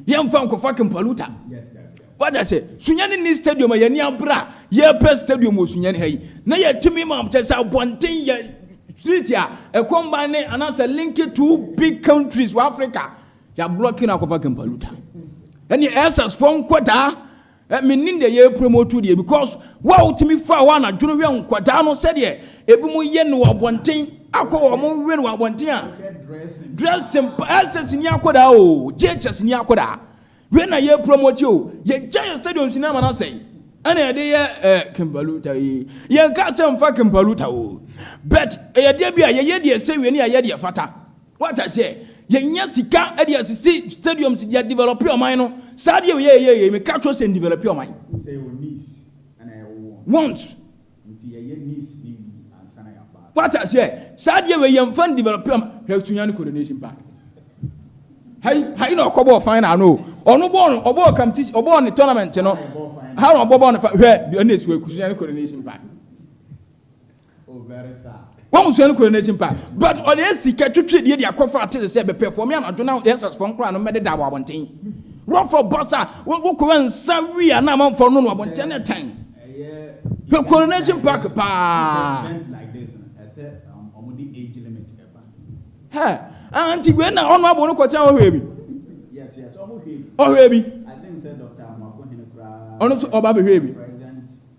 Yɛmfa nkɔfa Kimpaluta. Wate ase? Sunyani nni stadium a yɛni abere a yɛpɛ stadium wɔ Sunyani ha yi. Na yɛtumi ma kyɛ sɛ abɔnten yɛ street a ɛkɔ mban ne anaasɛ link two big countries wɔ Africa. Yɛablɔke no akɔfa Kimpaluta. Ɛne ɛsɛsfoɔ nkɔdaa Eh, mennim deɛ yɛ promoto deɛ because wo a wotumi fa hɔ anadwo no hwɛ nkwadaa no sɛdeɛ ebi mu yɛ no wɔ abɔnten akɔ wɔn mo wɛ no wɔ abɔnten a dressing pa ɛsɛs ni akwadaa o gyechɛs ni akwadaa wei na yɛ promoto o yɛgya yɛ stadium si na ama no asɛe ɛna yɛde yɛ eh, kimpaluta yi yɛnka sɛ mfa kimpaluta o but ɛyɛ deɛ bi a yɛyɛ deɛ sɛ wei ne yɛyɛ deɛ fata Wate aseɛ? Yɛnya sika de asisi stadiums, yɛ develop ɔman no. Saa deɛ yɛyɛ yɛ yei, meka kyerɛ sɛ ndevelop ɔman. Wohu sɛ yɛwɔ needs ɛna yɛwɔ wants. Wants. Nti yɛyɛ needs no wie ansa na yɛaba. Wate aseɛ? Saa deɛ wei yɛmfa ndevelop ɔman. Hwɛ Sunyani Coronation Park. Ha yi, ha yi na ɔkɔ bɔɔ final no o. Ɔno bɔɔ no, ɔbɔɔ competition, ɔbɔɔ ne tournament no. Ha na ɔbɔ bɔɔ no final. Hwɛ, ɛna ɛsi hɔ yi, Sunyani Coronation Park. wɔn sua no kura n'akyi mpa but ɔde asi ka twitwi deɛ de akɔfa ate sɛ bɛpɛ fɔm yɛn adwo na yɛsɛ fɔm koraa no mɛde da wɔ abɔnten rɔfɔ bɔs a wokɔwa nsa wi a na amanfoɔ no no abɔnten ne tan hwɛ coronation park paa hɛ anti wei na ɔno abo no kɔkyɛn ɔhwɛ bi ɔhwɛ bi ɔno nso ɔba bɛhwɛ bi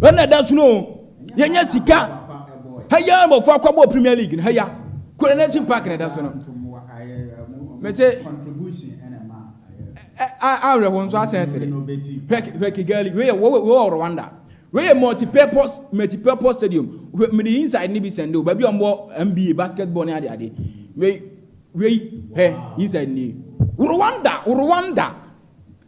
Ɛno na ɛda so no o. Yɛnya sika. Ha yi ara mmɔfra kɔbɔɔ Premier League no ha yi a. Coronation Park na ɛda so no. Mese awerɛho nso asɛn asere. Hwɛ Kigali, wei yɛ wei wɔ Rwanda. Wei yɛ multi-purpose multi-purpose stadium. Mede inside no bi sɛnde o, baabi a wɔbɔ NBA basketball ne ade ade. Wei wei hwɛ inside ni. Rwanda, Rwanda.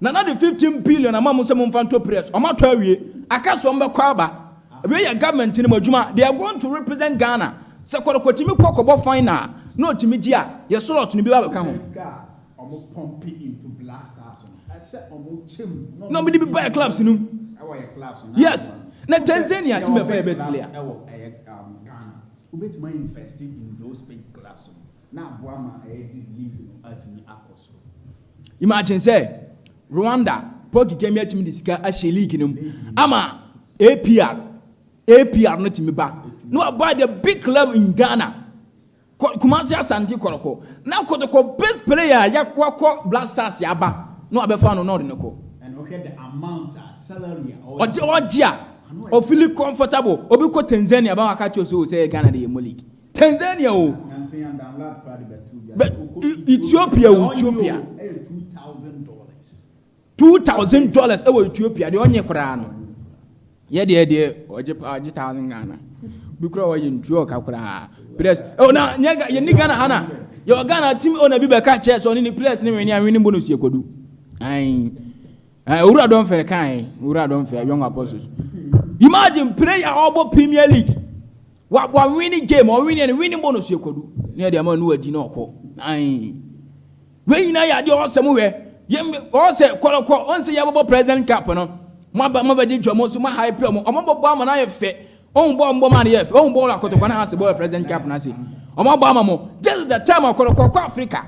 Nana de fifteen billion ama mo sɛ mo nfa nto press, ɔmo atɔ awie, aka sɛ ɔmo bɛ kɔ aba, wei yɛ government no mu adwuma, they are going to represent Ghana, sɛ kɔrɔkɔ tumi kɔ kɔ bɔ final a, na ɔtumi gye a, yɛ slot no bi ba bɛ ka ho. Na ɔmo de bi ba yɛ clubs no mu, yes, na Tanzania tumi bɛ fa yɛ best player. na aboa ma aɛdi limit no atumi akɔ soro. Imagine sɛ Rwanda, Paul Kigame atumi de sika ahyɛ league no mu ama APR, APR no tumi ba na wabuy the big club in Ghana, Kumasi Asante Kɔrɔkɔ, na Kɔtɔkɔ best player a wakɔ Black Stars aba na wabɛfa no na ɔde no kɔ. And ɔhwɛ the amount a salary a ɔgye a ɔfili comfortable, obi kɔ Tanzania ba waka kyerɛ sɛ o sɛ Ghana de yɛ mo league. Tanzania o, bɛ Ethiopia o, Ethiopia. Two thousand dollars ɛwɔ Ethiopia deɛ ɔnye koraa no. Yɛ deɛ deɛ ɔgye paa ɔgye thousand Ghana. Bi koraa ɔyɛ ntuo ɔka koraa. Press ɛwɔ na nyɛ yɛ ni Ghana ha na yɛ wɔ Ghana team ɔna bi bɛ ka kyɛ sɛ ɔne ni press ne wɛni awɛni bonus yɛ kodu. Ayi. Owura dɔn fɛ kan owura dɔn fɛ young apostles. Imagine prayer ɔbɔ Premier League. Wa wa wini game ɔwini yɛ no wini bonus yɛ kwadu ne yɛ de ama nuwa di na ɔkɔ ayi wei nyinaa yɛ adeɛ ɔsɛ mo hwɛ yɛ ɔsɛ kɔlɔkɔ ɔnsɛ yɛ bɔbɔ president cup no mo aba mo abɛgye dwa mo so mo aha epi ɔmo ɔmo bɔbɔ ama na yɛ fɛ ɔmo bɔ ɔmo bɔ ma no yɛ fɛ ɔmo bɔ ɔlɔ akɔtɔkɔ na ha se bɔ president cup na se ɔmo bɔ ama mo this is the time ɔkɔlɔkɔ kɔ Africa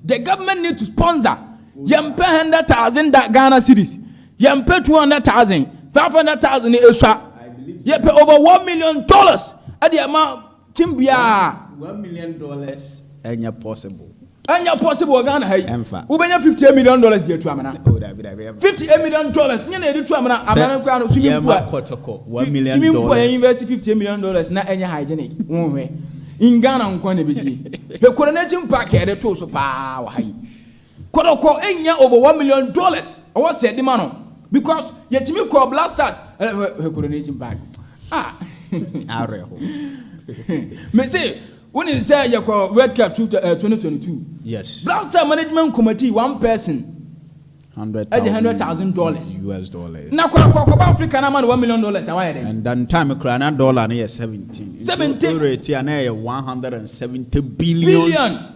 the government need to sponsor yɛn pɛ hundred thousand Ghana cedis Yɛmpɛ 200,000, 500,000 no esua. Yɛpɛ over 1 million dollars ɛde ɛma team biara. 1 million dollars ɛnyɛ possible. Ɛnyɛ possible wɔ Ghana ha yi. Ɛnfa. Wobɛnya 58 million dollars de atu amena. Oh, dabi dabi ɛnfa. 58 million dollars nyɛ na yɛde tu amena amena no kura no swimming pool. Yɛma kɔtɔkɔ 1 million dollars. Swimming pool yɛn invest 58 million dollars na ɛnyɛ hygienic. Wɔn hwɛ. In Ghana nkwa na ebi sie. The coronation park yɛde to so paa wɔ ha yi. Kɔtɔkɔ nnya over one million dollars ɔwɔ sɛ yɛde ma no because yɛtumi kɔɔ Blasters hwɛ coronation bag ah awerɛho mese wonim sɛ yɛkɔ World Cup two uh, twenty twenty two yes Blasters management committee one person ɛde hundred thousand dollars US dollars na kɔtɔkɔ kɔba Africa na ma no one million dollars a wayɛ dɛ and then time koraa na dollar no yɛ seventeen seventeen rate a na yɛ one hundred and seventy billion billion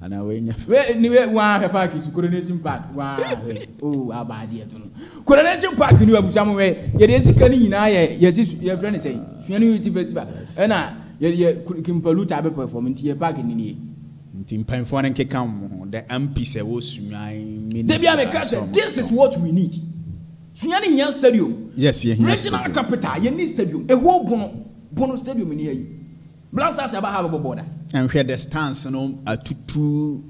Anaa wei nyɛ fɛ. Wei ni wei waa hwɛ park so coronation park waa hwɛ oo oh, abaa deɛ to no coronation park ni abusua mo hwɛ yɛde esika ni nyinaa yɛ yɛsi yɛ fɛ ne sɛ sua ni ti festival ɛna yɛ yɛ kimpalu ta abɛ perform nti yɛ park ni nie. Nti mpanyinfoɔ no nkeka wɔn ho dɛ ampi sɛ wɔ sunyani minister. Dabi a mi ka sɛ this is what we need sunyani hia stadium. Yes yɛ hia stadium. Regional capital yɛ ni stadium ehuo bono bono stadium ni yɛ yi. Blood cells ɛba ha bɛbɔ bɔɔda. Nhwɛ distance no atutu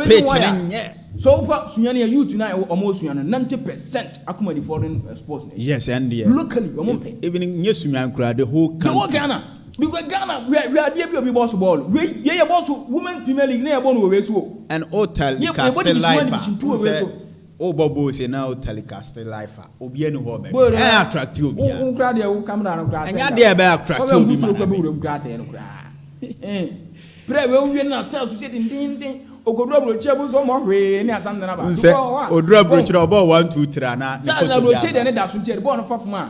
pitch no nyɛ. So wofa suani a youth no a wɔn osua no ninety percent akoma di foreign sports na ɛyɛ. Yes ɛndeɛ. Locally wɔn mpɛ. Even nyɛ suani koraa the whole country. The whole Ghana because Ghana hwɛ hwɛ adeɛ bi obi bɔ so bɔɔlo wei yɛ yɛ bɔ so women premier league na yɛ bɔ no wɔ wei so o. And o tell me casting life a n sɛ. Wo bɔ ball se na wo telecast life a obia ni hɔ ɔbɛ hwɛ ɛn attracti obia. Wo kura deɛ wo camera no kura sɛnda o. Ɛnyɛ adeɛ a ɛbɛ attracti obi ma na bɛ. Kura sɛɛ no kura ee. Prɛ wei wo wie no na cell so sɛ dendenden okoduru abrokyire bu nso ɔmɔ hwee ne asam nana ba. Wonsɛ oduru abrokyire a ɔbɔ one two three anaa ne koto biara. Cell na abrokyire deɛ ne da so nti yɛde bɔɔ no fa fam a.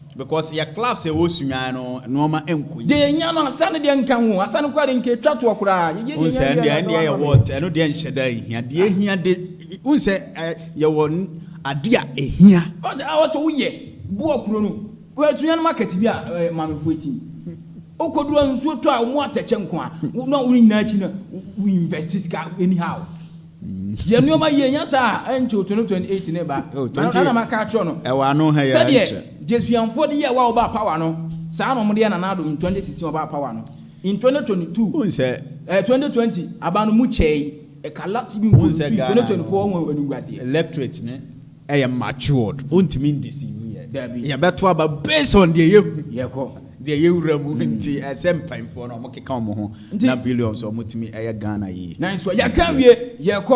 Because yɛ clubs a ɛwɔ Sunyani no nnoɔma nkɔ yie. Deɛ yɛnya no asa no deɛ nka ho, asa no koraa deɛ nka ɛtwa toɔ koraa, yɛyɛ deɛ yɛnya wiɛ no asa wamma me. Wohu sɛ ɛno deɛ nhyɛ da nhia, deɛ ɛhia de, wohu sɛ yɛwɔ adeɛ a ɛhia. Wohu sɛ ɛwɔ sɛ woyɛ, boa kuro no, hwɛ Sunyani market bi a maamefoɔ ti no, wokɔduru a nsuo tɔ a wɔn atɛkyɛ nko ara, na wɔn nyinaa akyi no wo invest sika anyhow. Yɛ nnoɔma yie nyɛ saa a ɛnkyɛ o 2028 no reba. Oh, Na 20 na na maka akyerɛ no ɛwɔ ano ha yɛ sɛdeɛ ɛnkyɛ. Jesuanfoɔ de yɛɛ wa a wɔbaa power no, saa na wɔde yɛ Nana Addo in 2016 wɔbaa power no. In 2022, Wohu sɛ eh, 2020 aba no mu kyɛe, ɛka lot bi Wohu mpo sɛ sui Ghana 2024 no ho animguaseɛ. electorate ne ɛyɛ matured ontumi ndeceive yɛ dabi yɛbɛto aba based on deɛ yɛhu yɛkɔ deɛ yɛwura mu mm. nti ɛsɛ mpanfoɔ no ɔmo keka ɔmo ho na billions ɔmo tumi ɛyɛ Ghana yie nanso yɛka wie yɛkɔ